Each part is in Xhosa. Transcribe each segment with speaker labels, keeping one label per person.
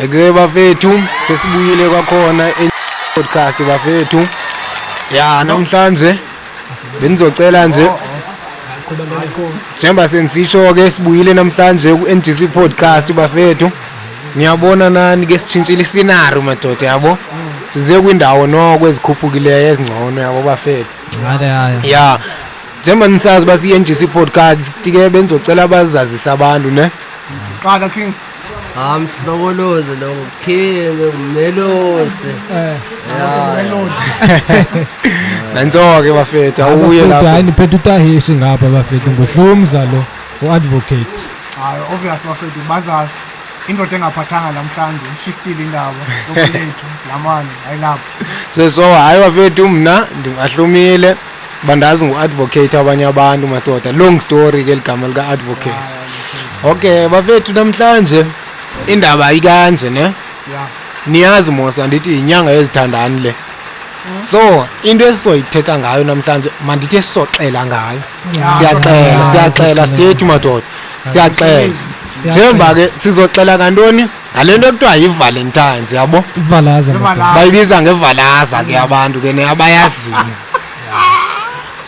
Speaker 1: Ekuzeke bafethu sesibuyile kwakhona podcast bafethu. Ya namhlanje bendizocela nje njengoba sendisitsho ke sibuyile namhlanje ku-NGC podcast bafethu. Niyabona nani ke sitshintshile isinari madoda yabo. Size kwindawo noko ezikhuphukileyo ezingcono yabo bafethu. Ngale haya. Ya njengoba nisazi uba siyi-ngc podcasts tike bendizocela bazazisa abantu ne qala
Speaker 2: king hayi mhlokolozi
Speaker 3: lo ngukhingi ngumelosi Eh.
Speaker 1: nantso ke bafethu awuye Abafethu, hayi lapho niphethe utaheshi
Speaker 4: ngapha bafethu nguhlumza lo uadvocate hayi obvious
Speaker 2: bafethu bazazi indoda engaphathanga namhlanje ishiftile indaba lokulethu lamani ayilapho so so hayi bafethu
Speaker 1: mna ndingahlumile bandazi ngu-advocate abanye abantu madoda long story ke ligama lika-advocate okay bafethu namhlanje indaba ikanje ne
Speaker 2: niyazi
Speaker 1: mos andithi yinyanga yezithandani le hmm? so into esizoyithetha ngayo namhlanje mandithi esizoxela ngayo siyaxela siyaxela sithethu madoda siyaxela njengoba ke sizoxela kantoni ngale nto kuthiwa yivalentines yabo ivalaza
Speaker 4: bayibiza
Speaker 1: ngevalaza ke abantu ke neabayaziyo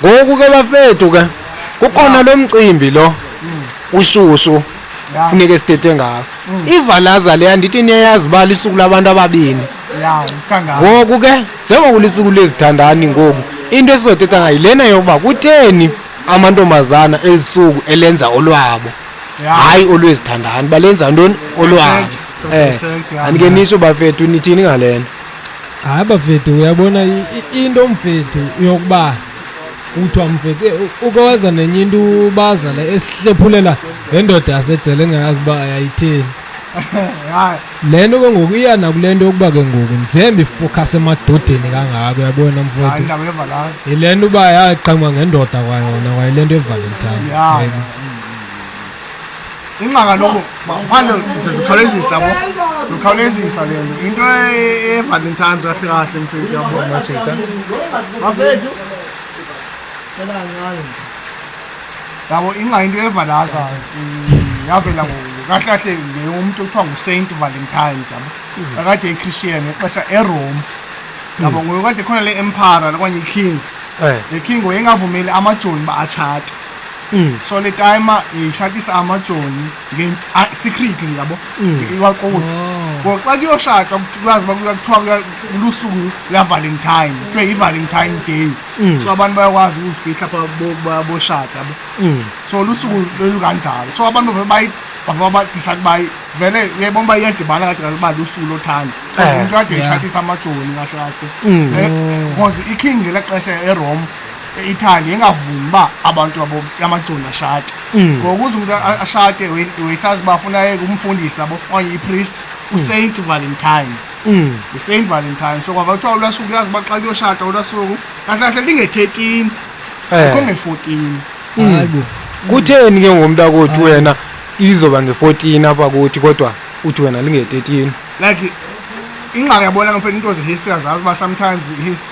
Speaker 1: ngoku ke bafethu ke kukhona lo mcimbi lo ushushu funeke sithethe ngawo mm. ivalaza leya ndithi niyayazi uba lisuku labantu ababini
Speaker 2: ngoku ke njengoba
Speaker 1: kulisuku lezithandani ngoku into esizothetha ngayo yilena yokuba kutheni amantombazana elisuku elenza olwabo hayi olwezithandani balenza ntoni olwabo eh, andike nisho bafethu nithini ngale nto hayi
Speaker 4: bafethu uyabona into mfethu yokuba kuthiwa mfethu eh, uke waza nenye into ubaza le esihlephulela le ndoda yasejele engayazi uba yayithini
Speaker 2: le nto ke ngoku
Speaker 4: iya nakule nto yokuba ke ngoku nzembe ifocus emadodeni kangako yabona mfowethu yile
Speaker 2: nto uba
Speaker 4: yaqangwa ngendoda kwayona kwaye le nto evalentine ingxaka loku mawuphande
Speaker 2: zikhawulezisa bo zikhawulezisa le nto into evalentine kahle kahle mfethu yabona majeta mafethu cela ngayo yabo ingayinto evalaza yavela kahlahle ngeyomntu kuthiwa ngusaint valentines yabo mhm. akade echristian ngexesha erome yabo mhm. ngoyo kade khona le empara okanye iking eh. le king wayengavumeli amajoni uba atshate mhm. so le time yayitshatisa amajoni secretly yabo iwakoti oh. ngoku xa kuyoshata kulazi uba kuthiwa lusuku lavalentine kuthiwe yivalentine day Mm. so abantu bayakwazi ukufihla pha bo- ba- boshada bo. Mm. so lusuku lolukanjalo so abantu vele bayi- bava badisa kuba vele uyayibona uba iyadibana kade kade uba lusuku lothando Eh, umntu ade yeah. etshatisa amajoni kahle kahle Mm. Eh, because iking ngela xesha erome e-italy ingavumi uba abantu abo amajoni ashate Mm. ngoku uze umntu a- ashate we- wesazi uba funa yeke umfundisi abo okanye ipriest usaint valentine Mm. The same Valentine. So kwava kuthiwa ulwasuku uyazi uba xa kuyoshata ulwasuku kahle kahle linge-13 Eh. akho nge-14 Hayi bo.
Speaker 4: Kutheni ke
Speaker 1: ngoku mntakwethu wena izoba nge-14 apha kuthi kodwa uthi wena linge-13? like
Speaker 2: ingxaki yabona ke mfethu into zehistory azazi uba sometimes i-history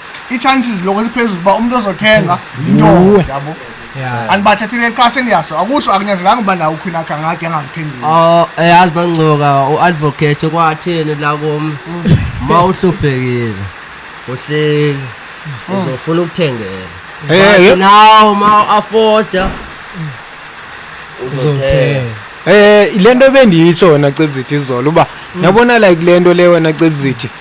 Speaker 2: ii-chances loko eziphezulu uba umntu ozothenga yinto yabo andibathathile
Speaker 4: xa
Speaker 2: sendiyaso akutsho akunyanzelanga uba nawo ukhwinakha ngade angakuthengiyo oh, yazi
Speaker 3: bangcoka uadvocate kwathini la kum ma mm. uhluphekile uhleli mm. uzofuna ukuthengela but now ma u-afoda uzothenga Eh ilento ebendiyitsho
Speaker 1: wena Cebzithi izolo uba yabona like lento le wena Cebzithi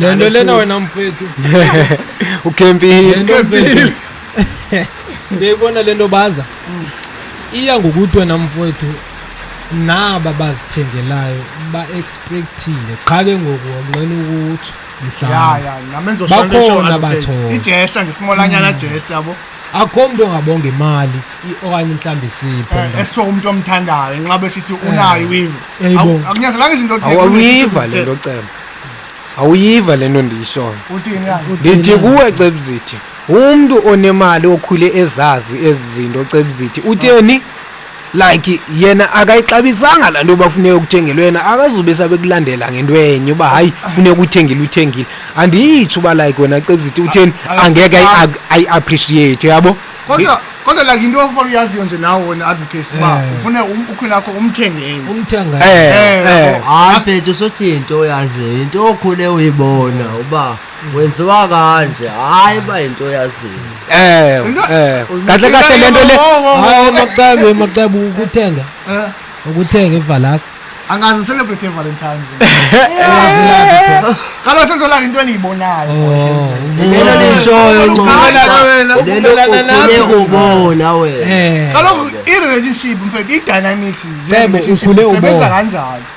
Speaker 4: le nto lena wena mfethu
Speaker 1: ukhempile le nto mfethu
Speaker 4: ndiyibona le nto baza iya ngokuthi wena mfowethu naba bazithengelayo ba-expectile qha ke ngoku wanqena ukutsho mhlawumbi
Speaker 2: bakhona bathoo
Speaker 4: ijesta ngesimolanyana
Speaker 2: jesta yabo akho mntu ongabonga
Speaker 4: imali i- okanye mhlawumbi isipho Eh, esithiwa umntu omthandayo
Speaker 2: nxa besithi unayo iwiva Eyibo. akunyanzelanga izinto othethwa awuyiva le nto
Speaker 1: ceba awuyiva le nto ndiyishoyo uthini yani ndithi kuwe cebzithi umntu onemali okhule ezazi ezi zinto cebzithi utheni like yena akayixabisanga laa nto uba funeka ukuthengelwe yena akazube sabe kulandela ngento enye uba hayi funeka uthengile uthengile andiyitsho uba like wena cebzithi utheni angeke ayiappreciate yabo kodwa kodwa like
Speaker 2: into ofuna uyaziyo nje nawe wona advocacy uba eh. ufune um-, ukhwini akho umthengeni umthenga
Speaker 3: eh, eh, hayi mfethu sothini into oyaziyo into okhule uyibona uba wenziwa kanje hayi uba yinto oyaziyo ewe ewe
Speaker 1: kahle kahle le nto le hayi macebo
Speaker 4: macebo ukuthenga ukuthenga ivalasi angazi celebrate
Speaker 2: evalentines kaloku senzolaka into endiyibonayo lelo
Speaker 3: lishoyo ncoaye ubona wena kaloku
Speaker 2: i-relationship mfethu i-dynamics zee-relationship
Speaker 4: zisebenza kanjani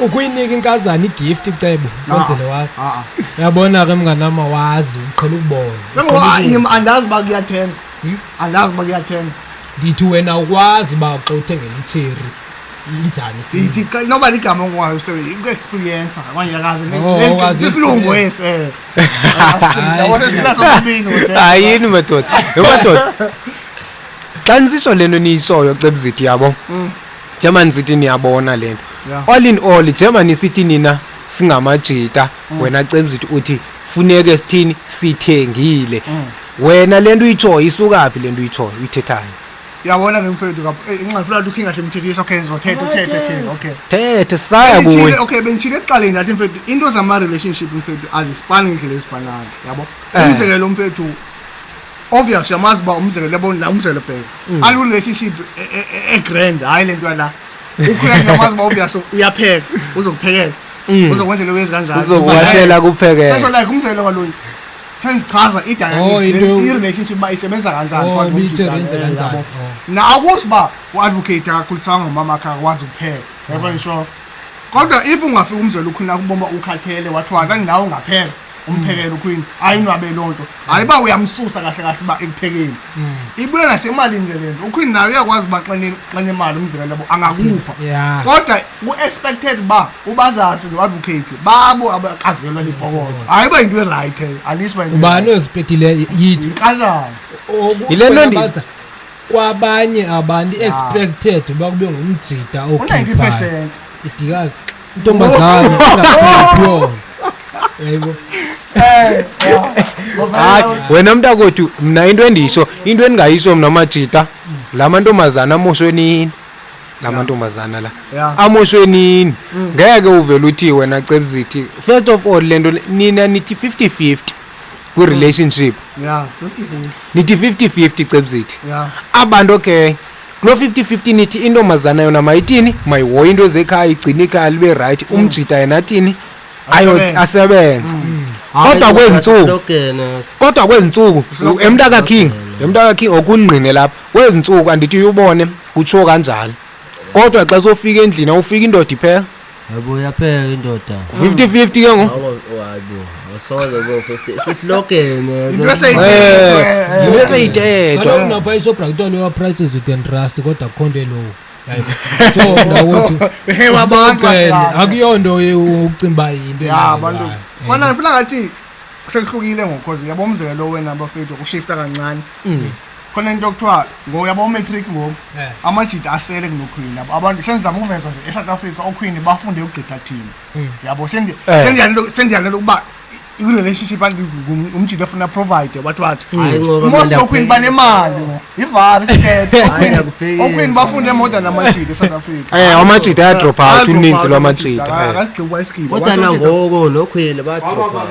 Speaker 2: ukuyinika inkazana
Speaker 4: igifti cebo kwenzele ah, wazi ah, ah. uyabona ke mnganama wazi uqhela ukubona andazi uba
Speaker 2: kuyathenga hmm? andazi uba kuyathenga ndithi wena
Speaker 4: ukwazi uba xa uthengela itheri injani ndithi noba
Speaker 2: ligama ongwayo ku-experiensa kwanyakazisisilungu oh, esi eh.
Speaker 1: ayini madoda yomadoda xa nisitsho le nto niyitshoyo cebuzidi yabo mm. German City niyabona le nto Yeah. all in all German City nina singamajita Mm. wena Cebzithi uthi funeke sithini sithengile Mm. wena le nto uyitshoyo isukaphi le nto uyitshoyo uyithethayo Uyabona ke
Speaker 2: mfethu ka eh, inxa funa ukuthi ingahle mthethisa okay ngizothetha uthethe ke okay. thethe sisaya
Speaker 1: kuwe Benditshile- okay benditshile ekuqaleni
Speaker 2: ndathi mfethu into zama-relationship mfethu azisipani ngendlela ezifanayo yabo Eh. umzekelo mfethu obvious yamazi uba umzekelo yabona la umzekelo bheka mm. alurelationship e, e, e, egrand hayi le nto yala ukhula yamazi uba obvious uyapheka uzokuphekela mm. uzokwenzela uyenzi kanjaniuzowashela kuphekela
Speaker 1: sesho like umzekelo kwalunye
Speaker 2: sengichaza idynamicsirelationship oh, uba isebenza kanjaniakuthi oh, oh. uba uadvocate akakhulisanga ngumama khe akakwazi ukupheka yabona sho kodwa if ungafika umzekelo ukhulina kuboma ukhathele wathiwa kaninawo ungaphela umphekela ukhwini ayinwabe loo nto hayi uba uyamsusa kahle kahle uba ekuphekeni Mm. ibuye nasemalini ke le nto ukhwini nayo uyakwazi uba xa ne- xa nemali umzekelo yabo angakupha Yeah. kodwa ku-expected uba ubazazi noadvocate babo abakazivelwa libhokodo hayi uba yinto erayithi eyo andisho uba yinto ubani oexpectile
Speaker 4: yithi yinkazana
Speaker 2: Yile nto
Speaker 1: ndi- kwabanye
Speaker 4: abantu i-expected uba kube ngumjita 90 okhiphayo percent
Speaker 2: idikazi
Speaker 4: Ntombazane. Bro. Yebo.
Speaker 1: Eh. Hayi wena mntakwethu mna into endisho into endingayisho mna majita la mantombazana amoshwe nini la mantombazana la Yeah. amoshwe nini Mm. ngeke uvele uthi wena cebzithi first of all le nto le- nina nithi 50 50 kwi-relationship Yeah. Look, you see. nithi 50 50 cebzithi Yeah. abantu okay kuloo 50-50 nithi intombazana yona mayitini mayihoye into ezekhaya igcine ikhaya libe rayithi mm. umjita yena athini asebenze mm. mm. kodwa kwezi ntsuku kodwa kwezi ntsuku emntaka king emntaka king okungqine lapha kwezi ntsuku andithi uyubone kutshiwo kanjalo kodwa xa sofika endlini awufika indoda iphela Yebo uyapheka
Speaker 3: indoda. 50 50 ke ngo.
Speaker 1: Awu hayibo.
Speaker 3: Wasoze bo 50. Sisiloke neze. Bese Eh,
Speaker 4: bese Kaloku idedwa. unapha isobra
Speaker 1: kuthiwa
Speaker 4: newa prices you can trust kodwa akukho nto elowo Right. so mnawethu Hey, wabantu
Speaker 2: isiloken, badala. akuyonto ye-
Speaker 4: ucinga uba yinto ya elandelayo. abantu Eh,
Speaker 2: kona ndifuna ngathi sekuhlukile ngokhozi yabo umzekelo wena bafethu kushifta kancane khona into yokuthiwa ngoyabo omatric ngoku eh. amajita asele kunokhwini yabo abantu sendizama ukuvezwa nje esouth africa okhwini bafunde ukugqitha thina hmm. yabo eh. sendiyalela ukuba i-relationship umjita efuna provide wathi wathi hmm. most okhwini banemali yivali sikeokhwini bafunde moda namajita esouth africa eh, amajita ayadrop out
Speaker 1: uninzi lwamajita akasigqiba isigidi
Speaker 2: kodwa nangoku
Speaker 3: nokhwini badrop out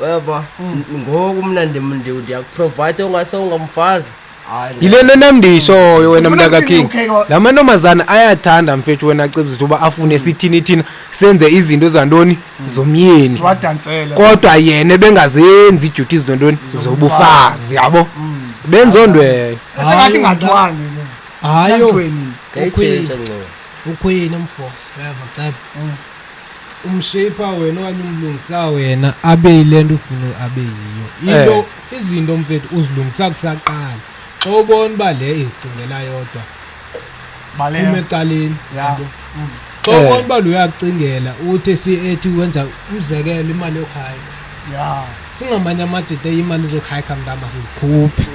Speaker 2: uyava
Speaker 3: Mm. N- ngoku mna ndim- ndi- ndiyakuprovide ongase ungamfazi Hayi, yile nto
Speaker 1: nam ndiyishoyo wena Ufuna mntaka king uphinde ukheke- la mantombazana ayathanda mfethu wena cebzitha uba afune sithini thina senze izinto zantoni zomyeni siwadansele kodwa
Speaker 2: yena
Speaker 1: ebengazenzi idyuti zontoni zobufazi yabo benzo ndweyo sengathi Hayi,
Speaker 2: ngathwani hayi Yantweni.
Speaker 4: ngayitshintsha
Speaker 3: nceba ukhwini mfo
Speaker 4: uyava ceba umshaper wena okanye umlungisa wena abe yile nto ufuna abe yiyo into eh. izinto mfethu uzilungisa kusaqala xa ubona uba le izicingela yodwa
Speaker 2: ume ecaleni
Speaker 4: mm.
Speaker 2: xa eh. ubona
Speaker 4: uba luyakucingela uthi siethi wenza umzekelo imali yokuhayika singamanye
Speaker 2: amajita
Speaker 4: imali zokuhayika mntama sizikhuphi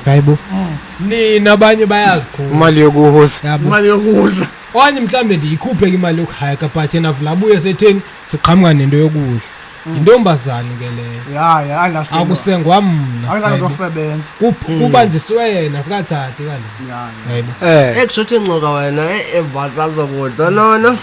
Speaker 4: yayibo mm. nina abanye bayazikhupha imali yokuhuza
Speaker 1: imali yokuhuza
Speaker 2: okanye mhlawumbi
Speaker 4: ndiyikhuphe ke imali yokuhayika but yena vula abuye setheni siqhamka nento yokudla mm. yintombazane ke leyo
Speaker 2: akusengwa mna
Speaker 4: mm.
Speaker 2: kuba ndiswe
Speaker 4: yena sikatshati kantiekutshoti eh, ncoka
Speaker 3: wena evasazo kudlo nono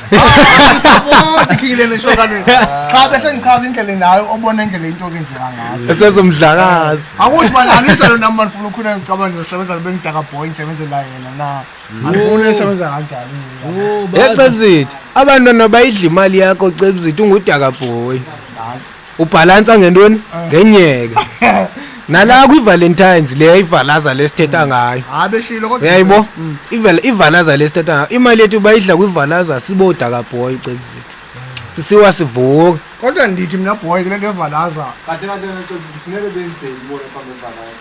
Speaker 2: qha besendichaza indlela nayo obona indlela into okenzeka ngayo esezomdlakazi
Speaker 1: akuthi banalisho
Speaker 2: lona mani funa ukhuna ngicabanga ndiyosebenza lobengidaka boy ndisebenzela yena na Ngifuna esebenza kanjani? Yo, Hey bazi. Cebzithi,
Speaker 1: abantwana bayidla imali yakho Cebzithi ungudaka boy. Ubhalansa ngentoni? Ngenyeke. Nala kwi Valentine's le ivalaza lesithetha ngayo. Hayi beshilo kodwa. Uyayibo?
Speaker 2: Mm. Ivala
Speaker 1: ivalaza lesithetha ngayo. Imali yethu bayidla kwi Valaza sibodaka boy Cebzithi. Sisiwa sivuka. Kodwa ndithi mina
Speaker 2: boy kule nto evalaza Kahle kahle nacebisa
Speaker 5: kufuneka benzeni bona phambi kwevalaza.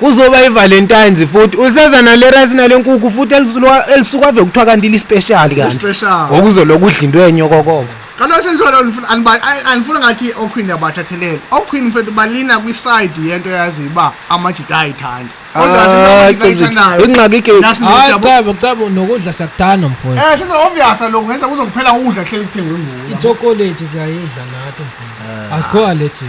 Speaker 1: kuzoba ivalentines futhi useza nalerasi nale nkukhu futhi elisuka ave kuthiwa kanti lispeshali kantiokuzoloku udla into enye okokoko kaloku
Speaker 2: sendisona andifuna ngathi oqueen ndiyabathathelela oqueen mfethu balina kwisayidi yento yaziyo uba amajita ayithanda
Speaker 1: kodwaingxakicabo
Speaker 4: nokudla sakudana mfowethu um sizoobviyasa loku
Speaker 2: ngenza kuzokuphela ukudla kuhleli kuthengwe nguwe ichokolethi siyayidla
Speaker 4: nathi mfowethu asigo allergic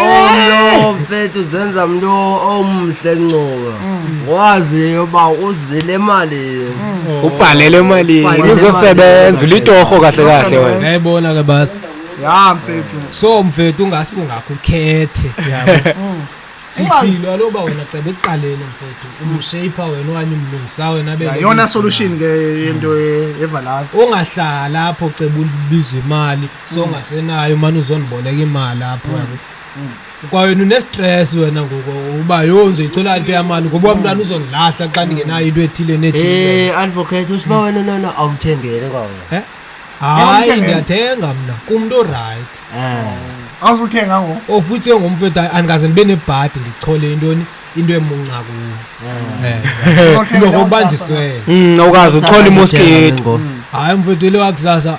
Speaker 3: Omlo mfethu zenza mntu omhle ncoba waziyo uba uzile emalini ubhalele
Speaker 1: emalini Ubhalele uzosebenza emalini. ulitorho kahle kahle wena ndayibona ke basi
Speaker 4: ya mfethu
Speaker 2: so mfethu
Speaker 4: ungaske ungakho ukhethe sithilo aloba wena ceba ekuqaleni mfethu umsheyipha wena okanye umlungisa wena abe Ya, yona solution ke
Speaker 2: yento ye- yevalasi ungahlala
Speaker 4: apho ceba ubiza imali songasenayo mani uzondiboleka imali apho mm. mm. kwawena unestress wena ngoku uba yho ndizoyitholani phi yamali ngoba uba mntana uzondilahla xa ndingenayo into ethile nethile eh, advocate usho uba mm. wena
Speaker 3: nona awumthengele kwawena eh? hayi
Speaker 4: ndiyathenga mna kumntu orayithi eh.
Speaker 2: awuzuthenga ngo ofuthiwe ngomfethu
Speaker 4: andikaze ndibe nebhadi ndichole intoni into emunca kulokokuba ndiswele awukazi uchole
Speaker 1: imosketi hayi mfethu
Speaker 4: ile wakusasa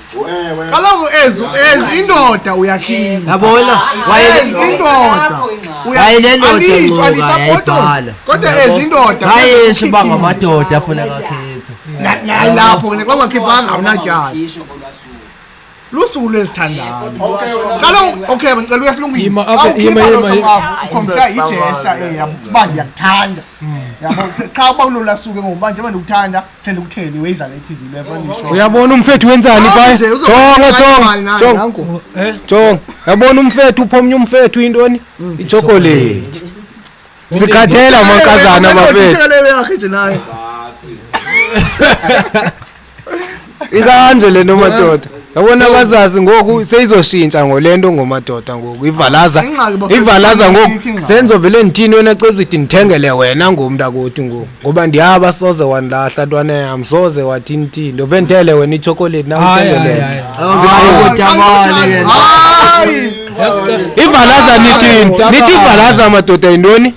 Speaker 2: kaloku ezi ezi indoda uyakhini yabona
Speaker 3: ezi indoda wayelendoda yayibhala kodwa ezi indoda
Speaker 2: zayesho uba
Speaker 3: ngamadoda afuna kakhipha naye lapho
Speaker 2: ke xa ungakhipanga awunatyala lusuku lwezithandayo kaloku okay ngicela uyasilungile Yima, okay, yima, yima, yima. ukhombisa ijesa eya uba ndiyakuthanda yabo qha uba kulolasuke ngokuba njengoba ndikuthanda Sithanda ukutheni weyizana ethi izilo evanisho. uyabona umfethu wenzani
Speaker 1: Awu, nje, phae uzoba jonga imali jonga nayo. jonga Nangu. Eh? jonga yabona umfethu upha omnye umfethu intoni ichokolate sikhathela amankazana bafethu Uthekelele yakhe nje naye. ikanje le nto madoda yabona abazazi ngoku seyizoshintsha ngolento ngomadoda ngoku ivalaza Ingxaki bafethu, ivalaza ingxaki, ngoku ingxaki. senzovele ndithini wena cebzithi ndithengele wena ngomntakuthi ngoku ngoba ndiyaba soze wandilahla ntwana yam soze wathini-thini ndove ndithele wena itshokoleti nawutengelele ivalaza nithini nithi ivalaza madoda yintoni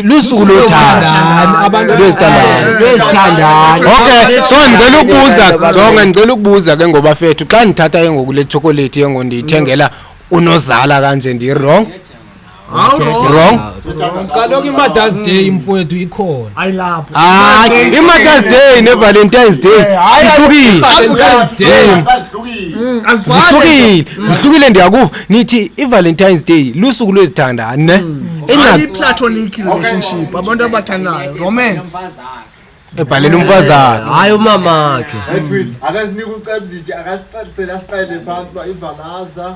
Speaker 1: lusuku lothandaaoke so ndicela ukubuza jonga ndicela ukubuza ke ngoba fethu xa ndithatha ke ngoku le tshokoleti ke ngo ndiyithengela unozala kanje ndiyi-wrong wrong
Speaker 4: kaloku i-mothers day mfowethu ikhona hayi lapho
Speaker 2: hayi i-mothers
Speaker 1: day ne-valentines day zihlukile zihlukile zihlukile ndiyakuva nithi i-valentines day lusuku lwezithandani ne i-platonic
Speaker 2: relationship abantu abathandayo romance
Speaker 1: ebhalela umfazi akhe hayi umama
Speaker 3: akhe akazinike
Speaker 5: ucebzithi akasicebisele asiqalele phansi uba ivalaza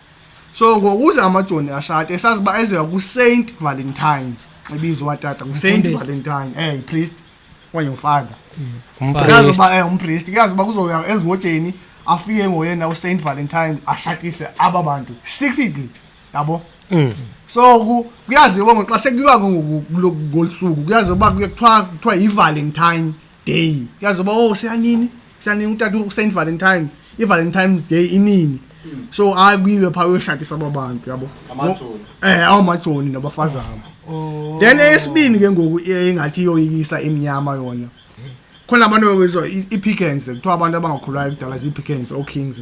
Speaker 2: so ngokuze amajoni ashate sazi uba ezeka kusaint valentine ibizo watata kusaint valentine um eh, priest okanye ufather mm. kazi uba um eh, umpriest kazi uba kuzoya ezingotsheni afike ngoyena usaint valentine ashatise aba bantu secretly yabo mm. so kuyaziwa ngoxa sekuyiwa ngolu suku kuyaziwa uba kuthiwa yivalentine day yazi uba oh siyanini siyanini utata usaint valentine ivalentine's day inini hmm. so hayi kuyiwe phaa uyoshatisa aba bantu yabo eh awamajoni nabafazi abo oh. then eyesibini ke ngoku ingathi iyoyikisa imnyama yona khona abantu babizwa ii-pickens kuthiwa abantu abangakhulayo kudala zii-pickens ookings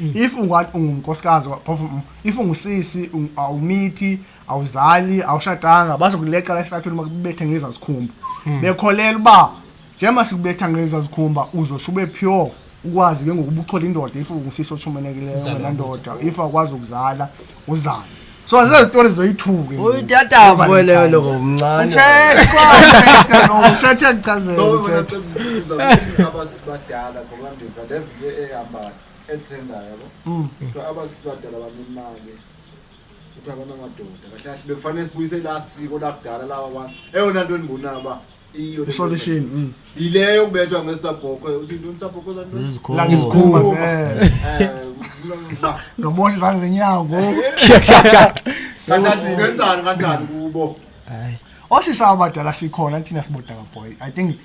Speaker 2: Mm. if ungunkosikazi phofu mm, if ungusisi awumithi awuzali awushatanga bazokuleqa la esihlathweni bakubethe ngeza zikhumba mm. bekholela uba njengoba sikubetha ngeza zikhumba uzosho ube pure ukwazi ke ngokuba uchole indoda if ungusisi oshumenekileyo ngenandoda if akwazi ukuzala uzana so azizezitori zoyithuke uyitatavu
Speaker 3: leyo loko mncane uthethe
Speaker 2: kuchazela abazisibadala
Speaker 5: ngoba ndenza le vile ehambayo etrendayo yabo mm. kuthiwa abazisibadala banemali kuthiwa abanamadodakahlekahle bekufanele sibuyise lasiko lakudala lawa bantu eyona nto endibonaba isolishini mm. yileyo
Speaker 2: yokubethwa ngesabhoko uthi ntoni sabhoko langezikhumba ngabosha izandla nenyawo ngoku
Speaker 5: kanti ngenzani kanjani kubo osisa
Speaker 2: abadala sikhona thina sibodaka boy i think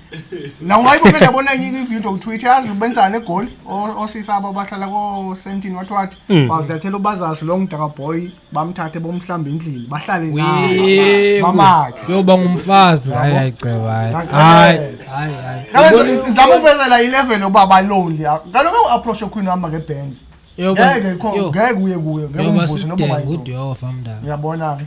Speaker 2: naw ungayibona ndabona enye ividiyo kutwitter yazi benzani egoli osisa aba bahlala koosentini wathi wathi bazilathela ubazasi lo ngudaka boy bamthathe bomhlamba endlini bahlale naye mamakhe yoba ngumfazi
Speaker 4: hayi hayi ceba hayi hayi hayi hayi Kaloku
Speaker 2: zama ukufezela ilevel yokuba balonely kaloku uapproach okhwini uhamba ngebenz Yoba- ngeke ikho- yo. ngeke uye kuyo ngeke yoba umvuze noba sidenga mayintoni. ude wafa mntana
Speaker 4: uyabona ke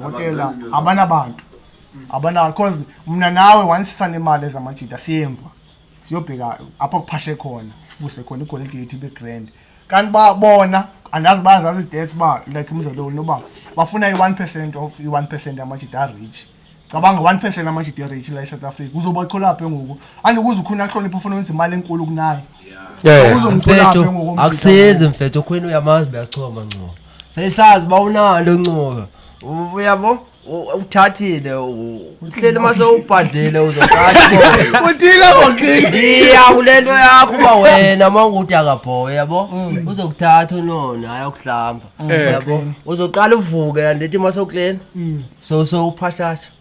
Speaker 2: dokotela abanabantu abana because mna nawe once sanemali ezamajita siyemva siyobheka apho kuphashe khona sifuse khona igolide yethu ibe grand kanti ba bona andazi bazazi izidate uba like umzekelo noba bafuna i-one percent of i-one percent yamajita arich cabanga one percent amajita arich la esouth africa uzobachola phi ngoku andikuze ukhuni ahloniphe ufuna wenza imali enkulu kunayo Yeah, Uzomthola mfethu apha ngoku umjita
Speaker 3: akusezi
Speaker 2: mfethu ukhwini
Speaker 3: uyamazi buyachoma ncobo seyisazi uba unalo ncuka U- uyabo U- uthathile U- uhleli mase ubhadlile uzothatha Utile
Speaker 2: ngokiki. iya kule nto
Speaker 3: yakho uba wena uma unguthi akabhowe yabo uzokuthatha unona ayokuhlamba yabo uzoqala uvuke andithi uma sowukleni so so uphashasha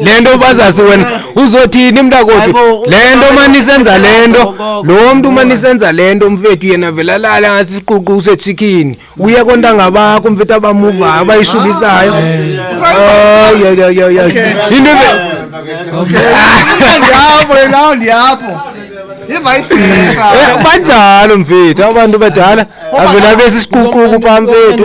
Speaker 4: le nto
Speaker 1: ubazasi wena uzothini mntakothi le nto manisenza le nto lo mntu manisenza le nto mfethu yena velalale angasisiququ usetshikini uye kontanga bakho mfethu abamuvayo abayishulisayo into
Speaker 2: banjalo
Speaker 1: mfethu abantu badala avela besi siququku pha mfethu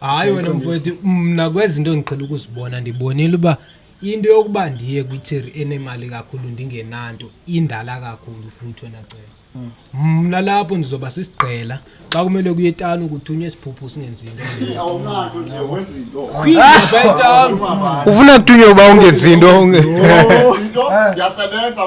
Speaker 4: hayi wena mfowethu mna kwezinto ndiqhela ukuzibona ndibonile uba into yokuba ndiye kwitheri enemali kakhulu ndingenanto indala kakhulu futhi wena cela mna lapho ndizoba sisigqela xa kumele kuye etani ukuthunywa isiphuphu singenzi into awunanto nje wenza into
Speaker 5: Khwini, bayitanga.
Speaker 4: ufuna
Speaker 1: kutunywa uba ungenzi into into
Speaker 5: yasebenza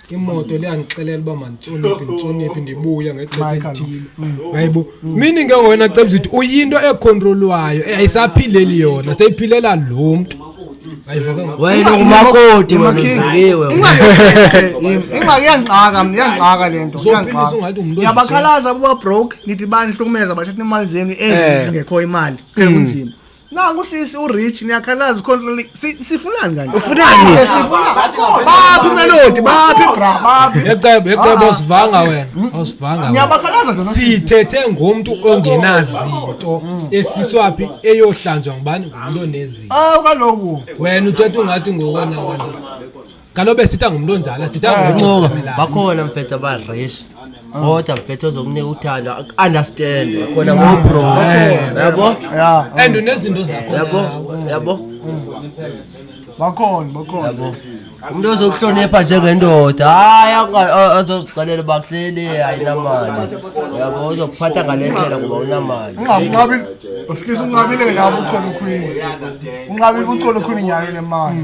Speaker 4: imoto le yandixelela uba manditsoniphi nditsoniphi ndibuya ngexesha elithile yayibo mini ke wena cebisa uthi uyinto ekhontrolwayo ayisaphileli yona seyiphilela lo mntu ayiva ke ngoku
Speaker 3: wena ngumakoti wena Making. uvuliwe
Speaker 2: ingxaki yangixaka mna yangixaka le nto Uzophilisa ungathi ungumntu
Speaker 4: yabakhalaza buba broke
Speaker 2: nithi banihlukumeza bashatha imali zenu ezi Eh. zingekho imali kunzima nangu sisi urich niyakhalaza control sifunani kanye ufunani baphi melodi baphi bra baphi yecebo yecebo usivanga
Speaker 4: ah, wena awusivanga hmm? niyabakhalaza nje
Speaker 2: sithethe ngomntu
Speaker 4: ongenazinto hmm. esiswaphi eyohlanjwa ngubani ngumntu onezinto awu ah, kaloku
Speaker 2: wena uthetha ungathi
Speaker 4: ngokona wena kalobe sitha ngumntu onjalo sitha Ncoba, bakhona
Speaker 3: mfethu abarish kodwa mfethu ozokunika uthando understand khona ngobro yabo ya and unezinto zakho yabo
Speaker 4: yabo
Speaker 3: bakhona
Speaker 2: bakhona yabo
Speaker 3: umuntu ozokuhlonipha njengendoda hayi anga- o- ozoziqalela uba kuhleli ayinamali yabo uzokuphatha ngale ndlela ngoba unamali ungakunqabi
Speaker 2: usikisa unqabile ke nabo ukhona ukhwini unqabile ukhona ukhwini nyalo lemali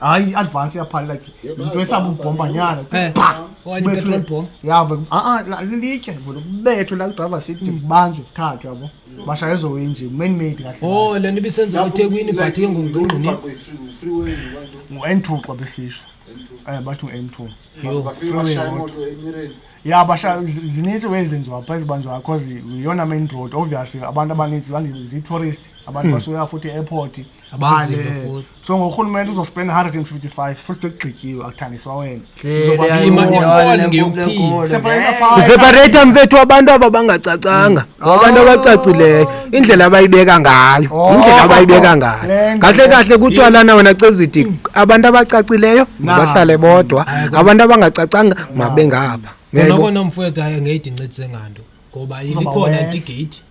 Speaker 4: hayi
Speaker 2: i-advance yaphala like yinto esabubhombanyana Eh, Pha! okanye Kubethwe-
Speaker 4: ipetrol bomb. yava aa
Speaker 2: lilitye vula kubethwe la kudriver seat kubanjwe kuthathwe yabo bashaye ezo wenjini manmade kahle Oh, le nto ibisenziwa eThekwini
Speaker 4: but ke ngongqongqoni.
Speaker 5: ngu-n two
Speaker 2: xa besisho um bathi ngu-n two
Speaker 5: ya basha zi- zininzi
Speaker 2: way ezenziwa pha ezibanjwayo because yiyona main road obviously abantu abaninzi bangi- zii-tourist abantu basuka futhi e-airport abazi Bale.
Speaker 4: futhi so ngorhulumente
Speaker 2: uzospenda 155 futhi sekugqityiwe akuthandiswa wena Hlele, Ima- ayiwa, imali le ngeyokuthiya.
Speaker 1: mfundo enkulu. Separate phaa. useparate mfethu abantu aba bangacacanga abantu abacacileyo indlela abayibeka ngayo Oh, indlela abayibeka ngayo le nto kahle le. kahle kuthiwa lana wena cebzidik abantu abacacileyo mabahlale bodwa abantu abangacacanga mabengapha kona Uyayibona? kona mfowethu
Speaker 4: aye ngeyide incedise nganto ngoba Uzoba likhona worse. itigeyiti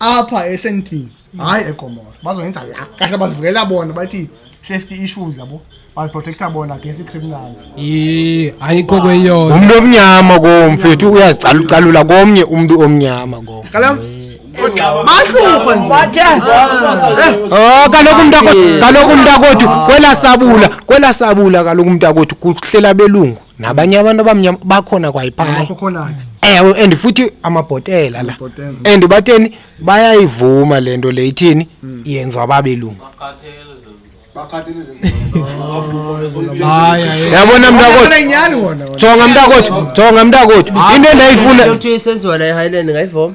Speaker 2: apha esendlini hayi egomora bazongenza la kahle bazivukela bona bathi safety issues yabo baziprotecta bona against i-criminals Yee, ayikho
Speaker 4: kweyona. umntu omnyama ko
Speaker 1: mfethu uyazicalucalula komnye umntu omnyama ko kala bahlupha
Speaker 2: nje Bathe Oh kaloku
Speaker 1: mntakwethu kaloku mntakwethu kwela sabula kwela sabula kaloku mntakwethu kuhlela belungu nabanye abantu abamnyama bakhona kwayiphaya ewe and futhi amabhotela la and batheni bayayivuma le nto le ithini mm. yenziwa babelungu
Speaker 4: yabona mntakothi
Speaker 1: jonga
Speaker 2: mntakothi
Speaker 1: jonga mntakothi into endayifuna isenziwa la
Speaker 3: ehighland ngayivoma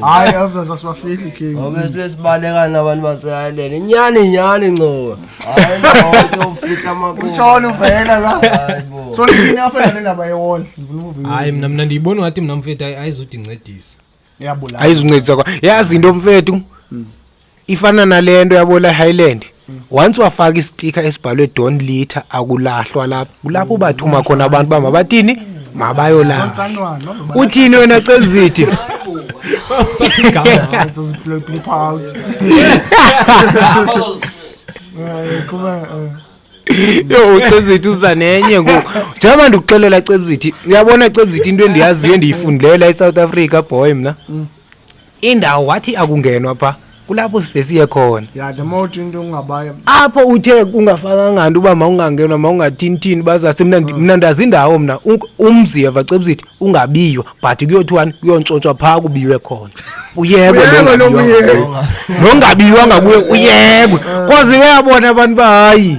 Speaker 2: hayi avlas asibafihli king obe sibe sibalekana
Speaker 3: nabantu basehighland inyani inyani ncoba hayi noke ufihla amakuba utshona uvela la hayi bo sonini apha nale ndaba
Speaker 2: yewall ndifuna ukuvika hayi mna mna
Speaker 4: ndiyibona ngathi mna mfethu ayi- ayizudincedisa iyabulala
Speaker 2: ayizuncedisa kwa
Speaker 1: yazi into mfethu ifana nale nto yabola highland once wafaka isitika esibhalwe don litter akulahlwa lapho kulapho ubathuma khona abantu uba mabathini mabayolapha
Speaker 2: uthini wena
Speaker 1: celizidi yo ucebizithi uza nenye ngoku njengoba ndikuxelela cebizithi uyabona cebizithi into endiyaziyo endiyifundileyo la esouth africa boy mna mm. indawo wathi akungenwa pha kulapho sivesiye khona ya the more into
Speaker 2: ungabayo apho uthe
Speaker 1: kungafakanga nto uba mawungangenwa mawungathintini bazase mna ndi- mna ndazi indawo mna Unk- umzi eva cebisithi ungabiywa but kuyothiwani kuyontshontshwa phaa kubiywe khona uyekwe Uyekwe lo nongabiywa- myeni. nongabiywa ngakuye uyekwe koze uyabona abantu bahayi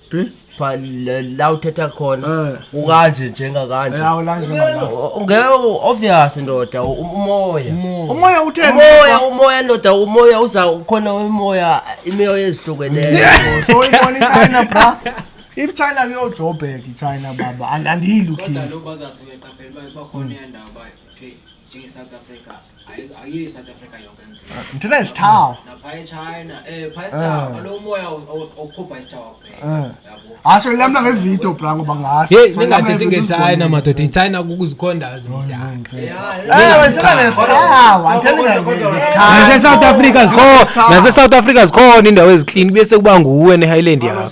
Speaker 3: pha le- la uthetha khona Eh. ukanje njengakanje Eh, awulanje mama.
Speaker 2: ngeke
Speaker 3: obvious ndoda u- umoya Umoya utheni?
Speaker 2: umoya umoya ndoda
Speaker 3: umoya uza khona umoya imiyo ezihlukeneyo So ibona
Speaker 2: iChina bra. If China kuyojobheka iChina baba and andiyilukile. kodwa lokhu bazasuke eqaphela
Speaker 6: uba iba khona iyandawo uba kuthiwe njenge-south africa ayiyo isouth africa yonke
Speaker 2: ndithina
Speaker 6: isithawa naphaa echina um eh, phaa isithawa eh. kalo moya okhupha
Speaker 2: isithawa kuphela eh. haso lamla ngevidiyo bra ngoba ngase ye ningathethi
Speaker 4: ngechina madoda ichina kukuzikhondazi mdanaasesouth
Speaker 1: africa zikhona nasesouth africa zikhona iindawo eziklini bese kuba nguwe nehighland yakho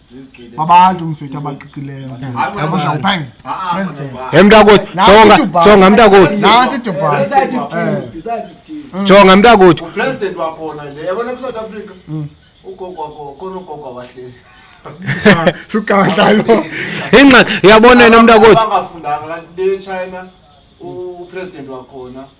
Speaker 5: babantu
Speaker 2: mfethu abaqiqileyo he
Speaker 1: mntakuthi jonga jonga mntakuthi nantsi idubhasi
Speaker 2: jonga
Speaker 1: mntakuthi upresident wakhona
Speaker 5: le yabona kwi-south africa mm. ugogo wakho khona ugogo awahleli
Speaker 2: sugadla lo inxa
Speaker 1: yabona yena mntakuthi bangafundanga kanti le
Speaker 5: china upresident wakhona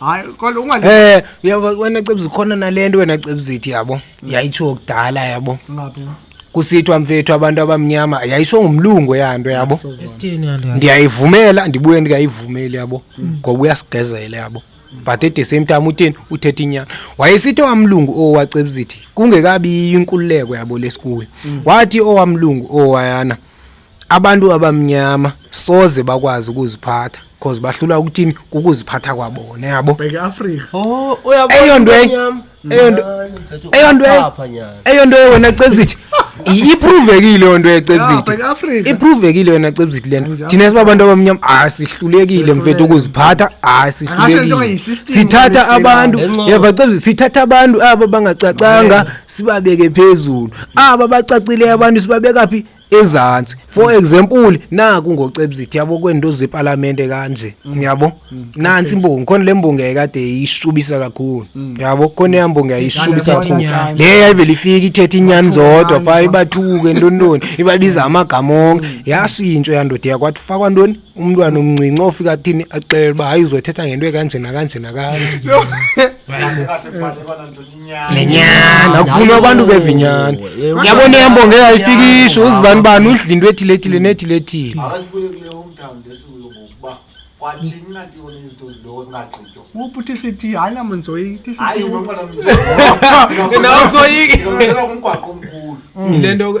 Speaker 2: hayi kodwa ungali Eh, uyabo wena cebza
Speaker 1: khona nalento wena cebza ithi yabo. Yayitsho kudala yabo. ngaphi na
Speaker 2: Kusithwa mfethu
Speaker 1: abantu abamnyama yayisho ngumlungu yanto yabo. Esithini kanti kanti?
Speaker 4: Ndiyayivumela ndibuye
Speaker 1: ndingayivumeli yabo ngoba uyasigezela yabo. But at the same time uthini uthetha inyanga. Wayesithi owamlungu owacebzithi kungekabi inkululeko yabo lesikuyo. Wathi owamlungu owayana abantu abamnyama soze bakwazi ukuziphatha cause bahlula ukuthini kukuziphatha kwabona yabo bheke afrika oh
Speaker 3: uyabona
Speaker 1: eyo nto eyo nto eyo nto eyo nto wena cebzithi ipruvekile yonto yecebzithi
Speaker 2: ipruvekile yona cebzithi
Speaker 1: le nto thina sibabantu abamnyama hayi sihlulekile mfethu ukuziphatha hayi sihlulekile sithatha abantu yeva cebzithi sithatha abantu aba bangacacanga sibabeke phezulu aba bacacileyo abantu sibabekaphi ezantsi for example naku ngocebzithi yabo kweento zepalamente kanje ngiyabo mm. nantsi imbongi khona le mbongi yayikade yishubisa kakhulu mm. yabo khona eya mbongi yayishubisa kakhulu le yayivele ifika ithetha inyani zodwa phaa ibathuke ntontoni ibabiza amagama onke mm. yashintshwa yandoda yakwathi fakwa ntoni umntwana omncinci ofika athini axele uba hayi uzothetha ngento ekanje nakanje nakanje nenyana kufuna abantu bevinyana yabo nembo ngeke ayifikisho uzibani bani udla into ethile ethile nethile ethile kwathini na nto ibona izinto zilowo
Speaker 5: zingagqitywa uphi utct
Speaker 2: hayi nam ndizoyiki hayi umqala
Speaker 5: mntu
Speaker 4: nawo soyiki umgwaqo omkhulu
Speaker 5: yile nto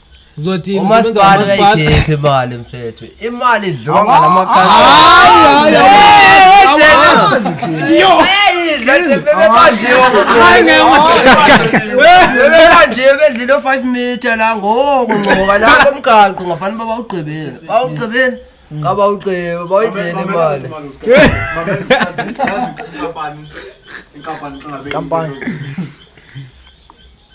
Speaker 4: uzothini umasipala
Speaker 3: uyayikhipha imali mfethu imali idlonga la makhaayibebanjiwe bedlile o-five meter la ngoku ncoka la komgaqo ngafanele uba bawugqibile bawugqibile ngabawugqibe bawuyidlele imali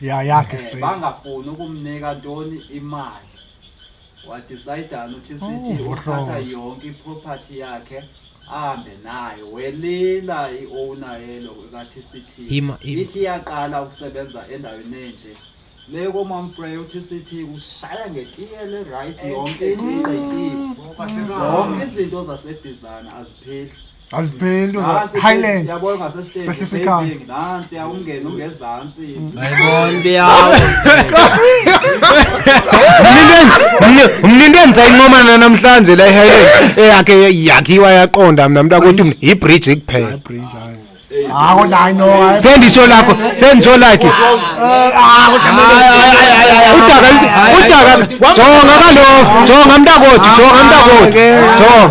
Speaker 6: ya yakhe Eh, straight bangafuni
Speaker 2: ukumnika
Speaker 6: ntoni imali wadisayidana uthi sithi Oh, uthatha ngohlobo. yonke iproperty yakhe ahambe nayo welila iowuna elo ka-tct Ima- ima. ithi iyaqala ukusebenza endaweni enje le komamfrey utct ushaya ngetiye lerayithi yonke iqeqiwe zonke izinto zasebhizana azipheli azipheli loo Nantsi
Speaker 2: za- highland yabo ngasesiteji Specific car.
Speaker 6: paving, nantsi
Speaker 3: awungeni ungezantsi
Speaker 1: Ayibona biyawo. mna into endisayincomana namhlanje la ihighland eyakhe yakhiwa yaqonda mna mntu akuthi mna yibridge kuphela bridge
Speaker 2: hayi hawo nayi no hayi. senditsho
Speaker 1: lakho senditsho lakhe Eh, ah, kodwa mele- udaka udaka jonga kaloku jonga mntakothi jonga mntakothi jonga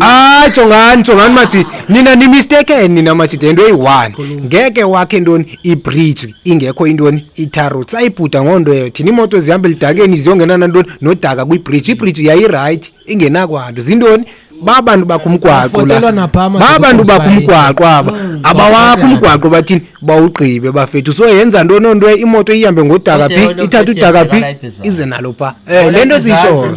Speaker 4: hayi
Speaker 1: jongani jongani mathi nina nimisteke nina mathi le nto eyi-one ngeke wakhe ntoni ibridge ingekho intoni itarot sayibhuda ngoo nto eyo thina iimoto zihambe lidakeni ziyongena nantoni nodaka kwibridge ibridge yayirayithi ingenakwanto zintoni ba bantu bakho umgwaqo la ba bantu bakho umgwaqo aba hmm. abawakho umgwaqo bathini bawugqibe bafethu so yenza ntoni onto imoto ihambe ngodaka phi ithatha udaka phi ize nalo pha um le nto ziyishoyo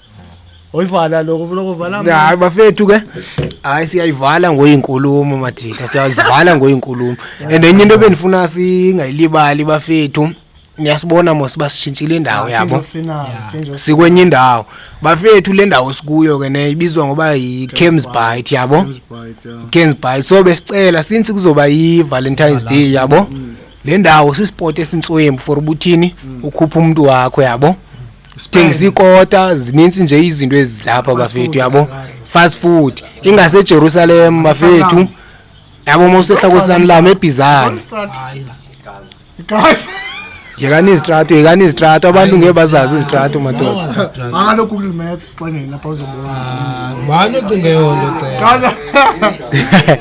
Speaker 2: Uyivala lokho ufuna ukuvala mina. Hayi bafethu ke.
Speaker 1: Hayi siyayivala ngoyinkulumo maditha siyazivala ngoyinkulumo. And enye into ebendifuna singayilibali bafethu. Niyasibona mos basishintshile indawo Change yabo. of scenery, change of- Sikwenye indawo. Bafethu le ndawo sikuyo ke ne ibizwa ngoba yi Cames Bite yabo. James Bright, yeah. Canes Bite. So besicela since kuzoba yi Valentine's Day yabo. Le ndawo sisipote esintswembu for ubuthini ukhupha umuntu wakho yabo. sithengisa ikota zininzi nje izinto ezilapha bafethu yabo fast food ingasejerusalem bafethu yabo uma usehla kwesani lami ebhizana yekani izitrato yekani izitrato abantu ngeke bazazi izitrato madoda Maxa Google
Speaker 2: Maps. Xengela pha uzobona. Ngubani ocinga eyo
Speaker 4: nto cela? Kaza.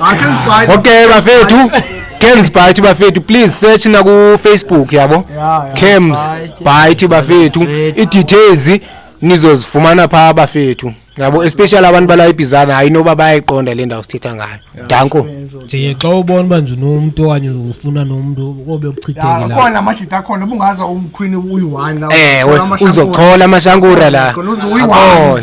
Speaker 4: Akhe sibhayi.
Speaker 1: okay bafethu Kems Bite bafethu please search na ku Facebook yabo Yeah, yeah. Kems Bite bafethu i details nizozifumana pha bafethu yabo especially abantu bala ibizana hayi noba bayayiqonda le ndawo sithetha ngayo danko ndiye xa
Speaker 4: ubona uba ndinomntu okanye ufuna nomntu kobe kuchithekile akhona amashita akhona ubungaza
Speaker 2: umkhwini uyi-one ewe uzochola
Speaker 1: amashankura la uyi-one